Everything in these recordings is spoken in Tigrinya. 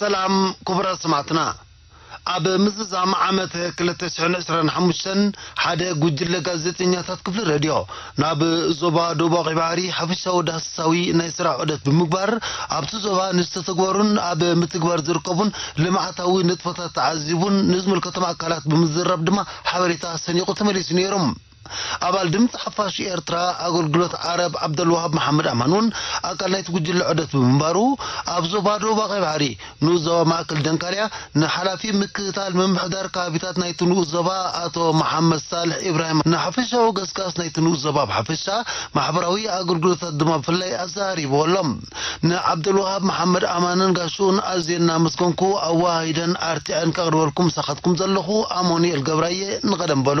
ሰላም ክቡራት ሰማዕትና ኣብ ምዝዛም ዓመት ክልተ ሽሕን ዕስራን ሓሙሽተን ሓደ ጉጅለ ጋዜጠኛታት ክፍሊ ሬድዮ ናብ ዞባ ደቡባዊ ቀይሕ ባሕሪ ሓፈሻዊ ዳህሳሳዊ ናይ ስራሕ ዑደት ብምግባር ኣብቲ ዞባ ንዝተተግበሩን ኣብ ምትግባር ዝርከቡን ልምዓታዊ ንጥፈታት ተዓዚቡን ንዝምልከቶም ኣካላት ብምዝራብ ድማ ሓበሬታ ሰኒቑ ተመሊሱ ነይሩ። ኣባል ድምጺ ሓፋሽ ኤርትራ ኣገልግሎት ዓረብ ዓብደልወሃብ መሓመድ ኣማን እውን ኣካል ናይቲ ጉጅለ ዑደት ብምንባሩ ኣብ ዞባ ደቡባዊ ቀይሕ ባሕሪ ንኡስ ዞባ ማእከል ደንካልያ ንሓላፊ ምክትታል ምምሕዳር ከባቢታት ናይቲ ንኡስ ዞባ ኣቶ መሓመድ ሳልሕ ኢብራሂም ንሓፈሻዊ ገስጋስ ናይቲ ንኡስ ዞባ ብሓፈሻ ማሕበራዊ ኣገልግሎታት ድማ ብፍላይ ኣዘራሪብዎ ኣሎ። ንዓብደልወሃብ መሓመድ ኣማንን ጋሽኡን ኣዝየ እናመስገንኩ ኣወሃሂደን ኣርቲዐን ከቕርበልኩም ምሳኻትኩም ዘለኹ ኣሞኑኤል ገብራየ ንቐደም በሉ።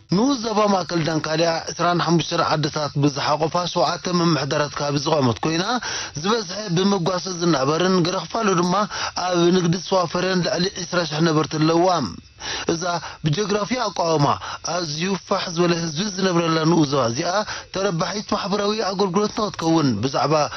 ንኡስ ዞባ ማእከል ዳንካልያ ዕስራን ሓሙሽተን ዓድታት ብዝሓቖፋ ሸውዓተ ምምሕዳራት ከባቢ ዝቖመት ኮይና፣ ዝበዝሐ ብመጓሰ ዝናበርን ገለ ክፋሉ ድማ ኣብ ንግዲ ዝተዋፈረን ልዕሊ ዕስራ ሽሕ ነበርቲ ኣለዉዋ። እዛ ብጀግራፊ ኣቋውማ ኣዝዩ ፋሕ ዝበለ ህዝቢ ዝነብረላ ንኡስ ዞባ እዚኣ፣ ተረባሒት ማሕበራዊ ኣገልግሎት ንኽትከውን ብዛዕባ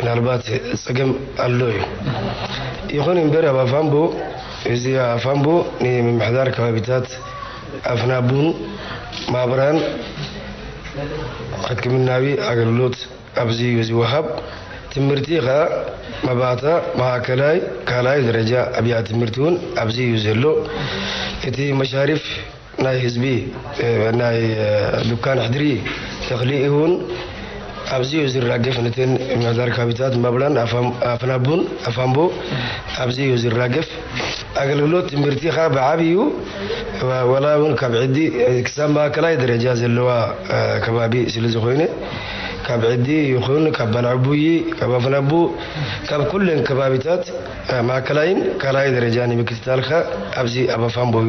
ምናልባት ጸገም ኣሎ እዩ። ይኹን እምበር ኣብ ኣፋምቦ እዚ ኣፋምቦ ንምምሕዳር ከባቢታት ኣፍናቡን ማብራን ሕክምናዊ ኣገልግሎት ኣብዚ እዩ ዝወሃብ። ትምህርቲ ከኣ መባእታ፣ ማእከላይ፣ ካልኣይ ደረጃ ኣብያት ትምህርቲ እውን ኣብዚ እዩ ዘሎ። እቲ መሻሪፍ። ናይ ህዝቢ ናይ ዱካን ሕድሪ ተክሊ ኢሁን ኣብዚኡ ዝራገፍ ንትን ምሕዳር ካቢታት ማብላን ኣፍናቡን ኣፋንቡ ኣብዚኡ ዝራገፍ ኣገልግሎት ትምህርቲ ከኣ ብዓቢኡ ወላ እውን ካብ ዕዲ ክሳብ ማእከላይ ደረጃ ዘለዋ ከባቢ ስለ ዝኾይነ ካብ ዕዲ ይኹን ካብ ባልዕቡይ ካብ ኣፍናቡ ካብ ኩለን ከባቢታት ማእከላይን ካልኣይ ደረጃ ንምክትታልካ ኣብዚ ኣብ ኣፋንቦዩ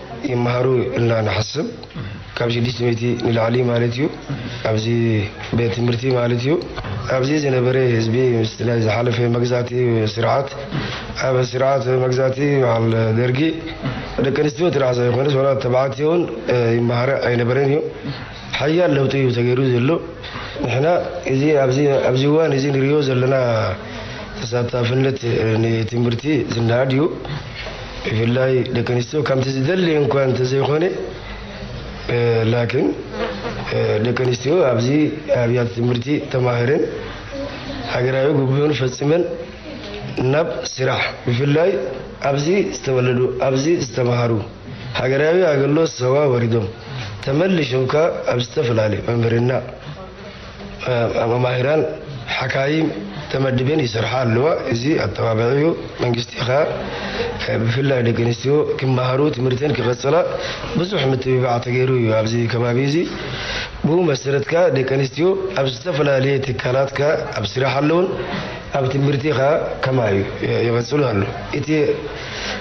ይመሃሩ ኢልና ንሓስብ ካብ ሽዱሽተ ሚእቲ ንላዕሊ ማለት እዩ ኣብዚ ቤት ትምህርቲ ማለት እዩ ኣብዚ ዝነበረ ህዝቢ ምስቲ ናይ ዝሓለፈ መግዛእቲ ስርዓት ኣብ ስርዓት መግዛእቲ በዓል ደርጊ ደቂ ኣንስትዮ ጥራሕ ዘይኮነስ ዋላ ተባዕትዮ እውን ይመሃረ ኣይነበረን እዩ ሓያል ለውጢ እዩ ተገይሩ ዘሎ። ንሕና እዚ ኣብዚ እዋን እዚ ንሪኦ ዘለና ተሳታፍነት ንትምህርቲ ዝነኣድ እዩ። ብፍላይ ደቂ ኣንስትዮ ከምቲ ዝደልየን እኳ እንተዘይኮነ ላኪን ደቂ ኣንስትዮ ኣብዚ ኣብያተ ትምህርቲ ተማሂረን ሃገራዊ ግቡእን ፈፂመን ናብ ስራሕ ብፍላይ ኣብዚ ዝተወለዱ ኣብዚ ዝተምሃሩ ሃገራዊ ኣገልሎት ሰዋ ወሪዶም ተመሊሾም ከኣ ኣብ ዝተፈላለዩ መምህርና መማሂራን ሓካይም ተመድበን ይሰርሓ ኣለዋ። እዚ ኣተባብዒኡ መንግስቲ ከኣ ብፍላይ ደቂ ኣንስትዮ ክመሃሩ ትምህርተን ክቐጽላ ብዙሕ ምትብባዕ ተገይሩ እዩ። ኣብዚ ከባቢ እዚ ብኡ መሰረት ከኣ ደቂ ኣንስትዮ ኣብ ዝተፈላለየ ትካላት ከኣ ኣብ ስራሕ ኣለውን ኣብ ትምህርቲ ከኣ ከማይ ይቐጽሉ ኣሎ። እቲ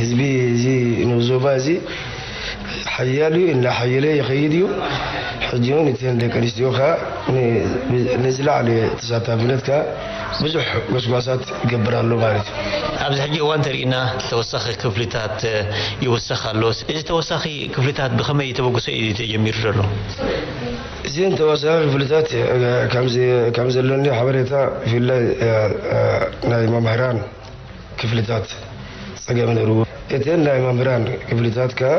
ህዝቢ እዚ ንኡስ ዞባ እዚ ሓያል እዩ፣ እናሓየለ ይኸይድ እዩ። ሕጂ እውን እተን ደቂ ኣንስትዮ ከኣ ንዝለዓለ ተሳታፍነት ከኣ ብዙሕ ጎስጓሳት ይገብራ ኣሎ ማለት እዩ። ኣብዚ ሕጂ እዋን እንተሪእና ተወሳኺ ክፍሊታት ይውሰኽ ኣሎ። እዚ ተወሳኺ ክፍሊታት ብኸመይ ተበግሶ እዩ ተጀሚሩ ዘሎ? እዘን ተወሳኺ ክፍሊታት ከምዘሎኒ ሓበሬታ ብፍላይ ናይ መምህራን፣ ክፍልታት ፀገም ነይርዎ። እተን ናይ መምህራን ክፍልታት ከዓ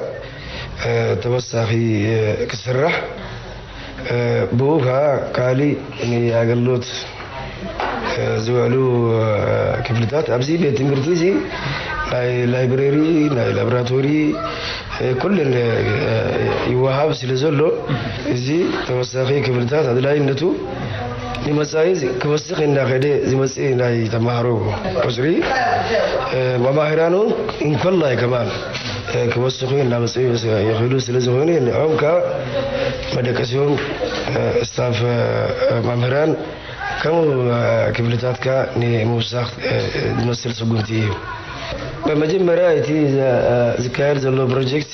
ተወሳኺ ክስራሕ ብኡ ከዓ ካሊእ ንኣገልግሎት ዝውዕሉ ክፍልታት ኣብዚ ቤት ትምህርቲ እዚ ናይ ላይብረሪ ናይ ላብራቶሪ ኩለን ይወሃብ ስለ ዘሎ እዚ ተወሳኺ ክፍልታት ኣድላይነቱ ንመፃኢ ክወስኽ እንዳኸደ ዝመፅእ ናይ ተምሃሮ ቁፅሪ መማህራኑ እንኮላይ ከማን ክወስኹ እንዳመፅኡ ይኽእሉ ስለዝኾኑ ንዖም ከዓ መደቀሲኦም ስታፍ መምህራን ከምኡ ክፍልታት ከዓ ንምውሳኽ ዝመስል ስጉምቲ እዩ። መጀመርያ እቲ ዝካየድ ዘሎ ፕሮጀክት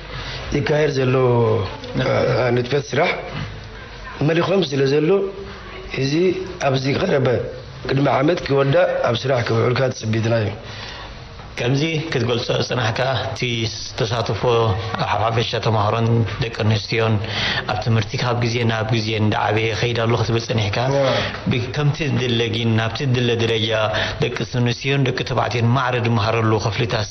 ዝካየድ ዘሎ ንጥፈት ስራሕ መሊኾም ስለዘሎ እዚ ኣብዚ ቀረበ ቅድሚ ዓመት ክወዳእ ኣብ ስራሕ ክውዕልካ ትጽቢትና እዩ። ከምዚ ክትገልጾ ዝጸናሕካ እቲ ተሳትፎ ሓፈሻ ተማሃሮን ደቂ ኣንስትዮን ኣብ ትምህርቲ ካብ ግዜ ናብ ግዜ እንዳዓበየ ይኸይድ ኣሎ ክትብል ጸኒሕካ ከምቲ ዝድለ ግን ናብቲ ዝድለ ደረጃ ደቂ ኣንስትዮን ደቂ ተባዕትዮን ማዕረ ዝመሃረሉ ክፍልታት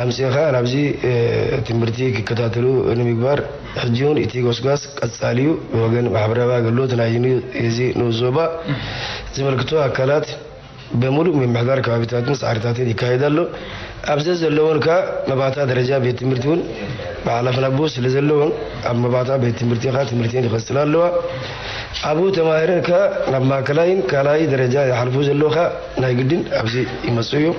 ኣምጺእኻ ናብዚ ትምህርቲ ክከታተሉ ንምግባር ሕጂውን እቲ ጎስጓስ ቀጻሊ እዩ። ብወገን ማሕበራዊ ኣገልግሎት ናይ እዚ ንኡስ ዞባ ዝምልክቶ ኣካላት በሙሉእ ምምሕዳር ከባቢታትን ሳዕሪታትን ይካየድ ኣሎ። ኣብ ዘዘለውን ከኣ መባእታ ደረጃ ቤት ትምህርቲ እውን መሓላፍን ኣቦ ስለዘለውን ኣብ መባእታ ቤት ትምህርቲ ከኣ ትምህርቲን ይቐጽላ ኣለዋ። ኣብኡ ተማሂረን ከኣ ናብ ማእከላይን ካልኣይ ደረጃ ይሓልፉ ዘለዉ ከኣ ናይ ግድን ኣብዚ ይመጽኡ እዮም።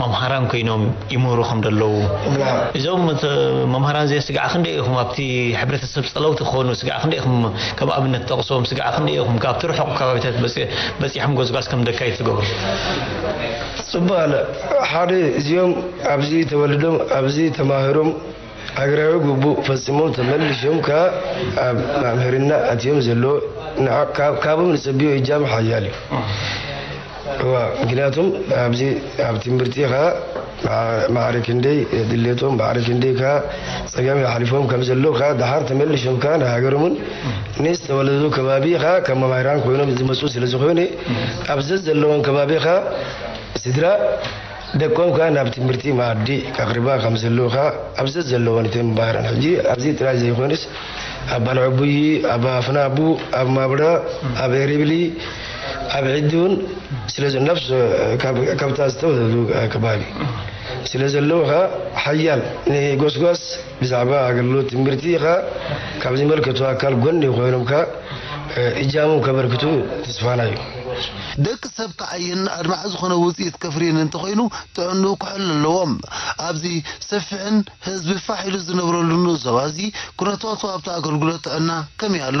መምሃራን ኮይኖም ይምህሩ ከም ደለዉ እዞም መምሃራን እዚ ስግዓ ክንደይ ኢኹም ኣብቲ ሕብረተሰብ ጸለውቲ ክኾኑ ስግዓ ክንደይ ኢኹም ከም ኣብነት ጠቕሶም ስግዓ ክንደይ ኢኹም ካብቲ ርሑቕ ከባቢታት በጺሖም ጎስጓስ ከም ደካይት ዝገብሩ ጽቡቅ ኣለ ሓደ እዚኦም ኣብዚ ተወልዶም ኣብዚ ተማህሮም ሃገራዊ ግቡእ ፈጺሞም ተመሊሾም ከኣ ኣብ መምህርና ኣትዮም ዘለዉ ካብም ንጸብዮ እጃም ሓያል እዩ። እዋ ምክንያቱም ኣብዚ ኣብ ትምርቲ ከኣ ማዕረ ክንደይ ድሌቶም ማዕረ ክንደይ ከኣ ጸገም የሕልፎም ከም ዘለዉ ከኣ ደሓር ተመሊሾም ከኣ ንሃገሮምን ንዝተወለድሉ ከባቢ ከኣ ከም መማህራን ኮይኖም ዝመጹ ስለ ዝኾነ ኣብ ዘዘለዎም ከባቢ ከኣ ስድራ ደቆምካ ናብ ትምህርቲ መኣዲ ከቕርባ ከም ዘለውካ ኣብ ዘዘለወን ትንባረን ሕጂ ኣብዚ ጥራይ ዘይኮነስ ኣብ ባልዕቡይ ኣብ ኣፍናቡ ኣብ ማብረ ኣብ ኤሪብሊ ኣብ ዒዲውን ስለ ነፍስ ካብታ ዝተወለዱ ከባቢ ስለ ዘለውካ ሓያል ንጎስጓስ ብዛዕባ ኣገልግሎት ትምህርቲ ከኣ ካብ ዝመልከቶ ኣካል ጎኒ ኮይኖም ከኣ እጃሞም ከበርክቱ ትስፋና እዩ። ደቂ ሰብ ክዓይን ኣድማዒ ዝኾነ ውጽኢት ከፍርይን እንተኾይኑ ጥዕንኡ ክሕሉ ኣለዎ። ኣብዚ ሰፊሕን ህዝቢ ፋሕ ኢሉ ዝነብረሉን ዞባ'ዚ ኩነታቱ ኣብቲ ኣገልግሎት ጥዕና ከመይ ኣሎ?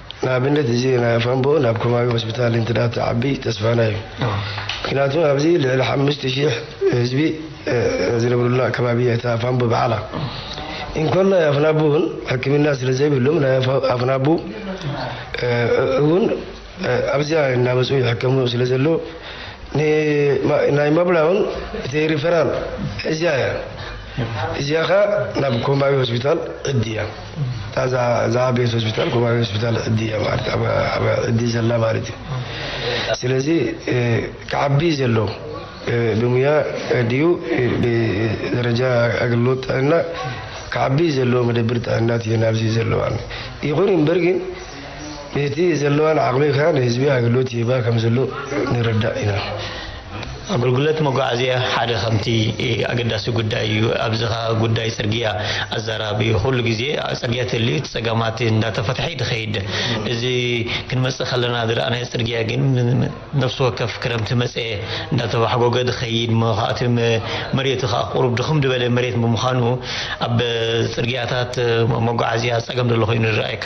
ንኣብነት እዚ ናይ ኣፋምቦ ናብ ከባቢ ሆስፒታል እንትዳ ትዓቢ ተስፋና እዩ ምክንያቱ ኣብዚ ልዕሊ ሓምሽተ ሺሕ ህዝቢ ዝነብሩላ ከባቢ እያ እታ ኣፋምቦ ብሓላ እንኮን ናይ ኣፍናቡ እውን ሕክምና ስለ ዘይብሎም ናይ ኣፍናቡ እውን ኣብዚኣ እናመፁ ይሕከሙ ስለ ዘሎ ናይ መብላ እውን እቲ ሪፈራል እዚያ እያ እዚያ ኸ ናብ ኮማዊ ሆስፒታል ዕድያ እታ እዛ ቤት ሆስፒታል ኮማዊ ሆስፒታል ዕዲ እያ ማለት ኣብ ዕዲ ዘላ ማለት እዩ ስለዚ ክዓቢ ዘሎ ብሙያ ድዩ ብደረጃ ኣገልግሎት ጥዕና ክዓቢ ዘለዎ መደብር ጥዕና እዩ ናብዚ ዘለዋ ይኹን እምበር ግን ብቲ ዘለዋን ዓቕሚ ከኣ ንህዝቢ ኣገልግሎት ይህባ ከም ዘሎ ንርዳእ ኢና። ኣገልግሎት መጓዓዝያ ሓደ ከምቲ ኣገዳሲ ጉዳይ እዩ። ኣብዚ ከኣ ጉዳይ ጽርግያ ኣዛራቢ እዩ። ኩሉ ግዜ ጽርግያ ተልዩ እቲ ጸገማት እንዳተፈትሐ እዩ ድኸይድ። እዚ ክንመጽእ ከለና ዝረኣናዮ ጽርግያ ግን ነፍሲ ወከፍ ክረምቲ መጸ እንዳተባሕጎገ ድኸይድ እሞ ከኣ እቲ መሬቱ ከኣ ቁሩብ ድኽም ድበለ መሬት ብምዃኑ ኣብ ጽርግያታት መጓዓዝያ ጸገም ዘሎ ኮይኑ ይረኣየካ።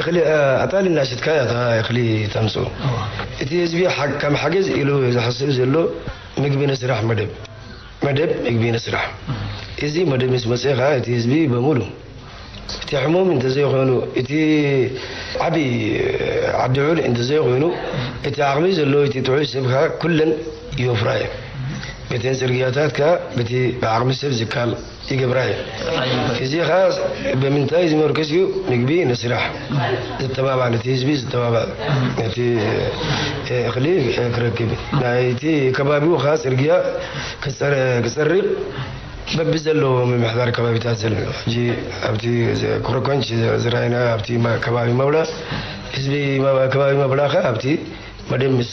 እኽሊ ኣጣል እና ሽጥካ እያ እታ እኽሊ ተምፅኡ እቲ ህዝቢ ከም ሓገዝ ኢሉ ዝሓስብ ዘሎ ምግቢ ንስራሕ መደብ መደብ ምግቢ ንስራሕ እዚ መደብ ምስ መፀ ከዓ እቲ ህዝቢ በሙሉ እቲ ሕሙም እንተዘይኮይኑ እቲ ዓብይ ዓዲዑል እንተዘይኮይኑ እቲ ዓቕሚ ዘለዎ እቲ ጥዑይ ሰብ ከዓ ኩለን ይወፍራ እየን በተን ፅርግያታት ከዓ በቲ ብዓቕሚ ሰብ ዝካል ይገብራ'ዩ። እዚ ኸኣ ብምንታይ ዝምርኩስ እዩ? ምግቢ ንስራሕ ዘተባብዕ፣ ነቲ ህዝቢ ዘተባብዕ፣ ነቲ እኽሊ ክረክብ፣ ናይቲ ከባቢኡ ኸኣ ጽርግያ ክጸርግ በብዘለዎ ምምሕዳር ከባቢታት ዘሎ ሕጂ ኣብቲ ኮረኮንች ዝረኣይናዮ ኣብቲ ከባቢ መብላ ህዝቢ ከባቢ መብላ ኸኣ ኣብቲ መደብ ምስ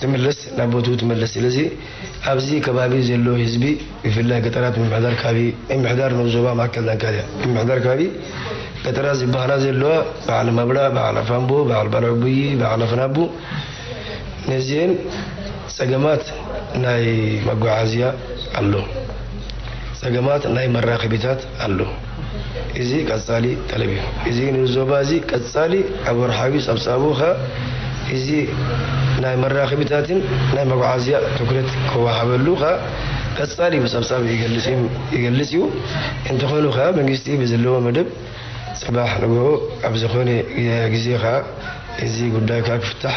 ዝምለስ ናብ ቦትኡ ትመለስ ስለዚ ኣብዚ ከባቢ ዘሎ ህዝቢ ብፍላይ ገጠራት ምምሕዳር ከባቢ ምምሕዳር ንኡስ ዞባ ማእከል ዳንካልያ ምምሕዳር ከባቢ ገጠራት ዝበሃላ ዘለዋ በዓል ማብላ በዓል ኣፋምቦ በዓል ባልዕቡይ በዓል ኣፍናቡ ነዚኤን ጸገማት ናይ መጓዓዝያ ኣሎ ጸገማት ናይ መራኸቢታት ኣሎ እዚ ቀጻሊ ጠለብ እዩ። እዚ ንዞባ እዚ ቀጻሊ ኣብ ወርሓዊ ጸብጻቡ ከኣ እዚ ናይ መራኽቢታትን ናይ መጉዓዝያ ትኩረት ክወሃበሉ ከኣ ቀጻሊ ብጸብጻብ ይገልጽ እዩ። እንተኾኑ ከኣ መንግስቲ ብዝለዎ መደብ ጽባሕ ንግሆ ኣብ ዝኾነ ግዜ ከኣ እዚ ጉዳይ ከኣ ክፍታሕ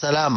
ሰላም።